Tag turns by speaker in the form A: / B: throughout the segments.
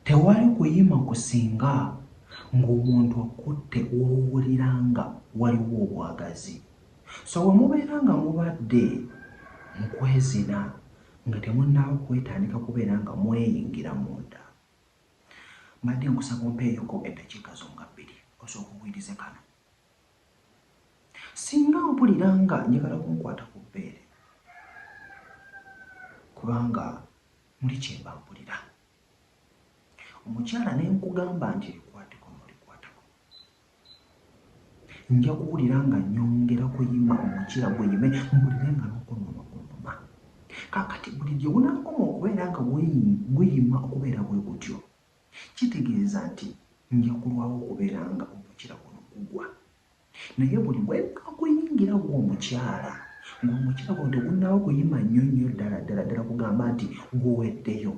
A: Tewali kuyima kusinga ng'omuntu okutte w'owulira nga waliwo obwagazi. So bwe mubeera nga mubadde mu kwezina nga temunnaaba kwetandika kubeera nga mweyingira munda. Mbadde nkusaba ompeeyoko eddakiika zo nga bbiri osooke owulirize kano. Singa mpulira nga njagala kunkwata ku bbeere kubanga. Muli kye mbabbulira. Omukyala ne nkugamba nti likwate kuno likwata kuno. Nja kuwulira nga nnyongera kuyima omukira guyime mpulire nga n'okunuma kunuma. Kaakati buli gye gunaakoma okubeera nga guyima okubeera bwe gutyo kitegeeza nti nja kulwawo okubeera nga omukira guno gugwa. Naye buli wenna kuyingira gwe omukyala nga omukyala guno tegunaba kuyima nnyo nnyo ddala ddala ddala kugamba nti guweddeyo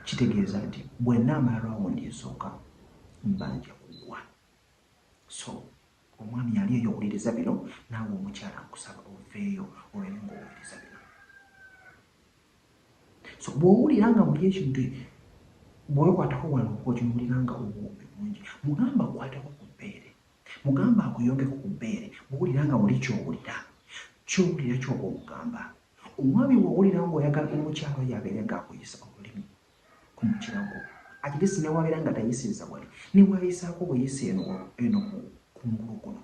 A: kitegeeza nti bwenna amala rawundi esooka mbanja kugwa so omwami yali eyo owuliriza bino naawe omukyala nkusaba oveeyo olabye ngaowuliriza bino so bwowulira nga buli ekintu bwewekwatako wano okimuwulira nga obuwumbi bungi mugamba akwateko ku bbeere mugamba akuyongeko ku bbeere bwowulira nga buli kyowulira kyowulira kyoba omugamba omwami bwowulira nga oyagala omukyalo yabeere nga akuyisa olulimi ku mukiragwo atilisi newabeera nga tayisiriza wali nebwayisaako buyisa eno eno kungulu kuno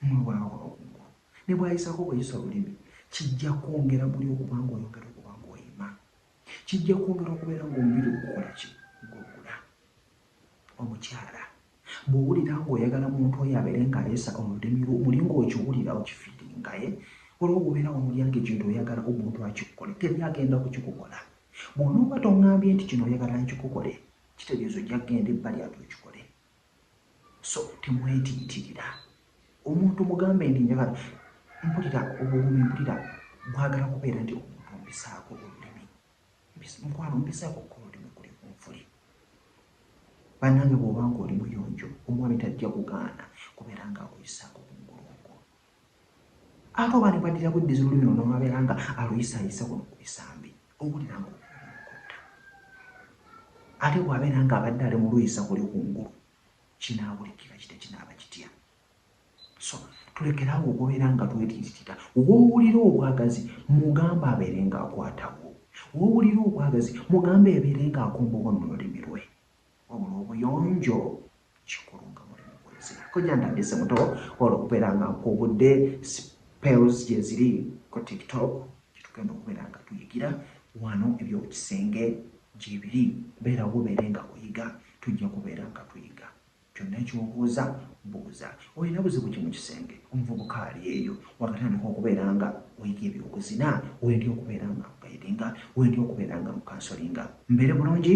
A: Mwe bwaba wa waggulu ne bw'ayisaako buyisa olulimi, kijja kwongera muli okuba ng'oyongera okuba ng'oyima. Kijja kwongera okubeera ng'omubiri ogukola ki? Gugula. Omukyala bw'owulira ng'oyagala muntu oyo abeere ng'ayisa olulimi lwo muli ng'okiwulira, okifiiringa, eh? Olwo bw'obeera wamulya ng'ekintu oyagala omuntu akikukole, teri agenda kukikukola. Bw'onooba tong'ambye nti kino oyagala nkikukole, kitegeeza ojja kugenda ebbali ate okikole. So temwetiitirira. Omuntu mugambe nti njagala mpulira obuwoomi mpulira mwagala kubeera nti omuntu mpisaako olulimi mukwano mpisaako okukola olulimi kuli ku nfuli. Bannange bw'oba ng'oli muyonjo omwami tajja kugaana kubeera ng'akuyisaako ku mugongo. Ate oba ne bwaddira kuddiza olulimi luno n'olwabeera nga aluyisaayisa kuno ku bisambi, owulira ng'olulimi lukutta. Ate bw'abeera ng'abadde ali mu luyisa kuli ku ngulu, kinaawulikika kitya? Kinaaba kitya? So tulekere awo okubeera nga twetiititita. W'owulira obwagazi, mugambe abeere ng'akwatawo. W'owulira obwagazi, mugambe abeere ng'akomba obwa mu lulimi lwe. Wabula obuyonjo kikulu nga muli mukwezi. Kojja ntandise muto wabula okubeera nga nkuubudde spells gyeziri ku tiktok gyetugenda okubeera nga tuyigira wano ebyokisenge gyebiri beera wobeere nga oyiga tujja kubeera nga tuyiga kyonna kyobuuza buuza olina buzibu ki mukisenge omuvubuka ali eyo wakatandika okubeera nga oyiga ebyobuzina wendi okubeera nga nkugaidinga wendi okubeera nga nkukansolinga mbeere bulungi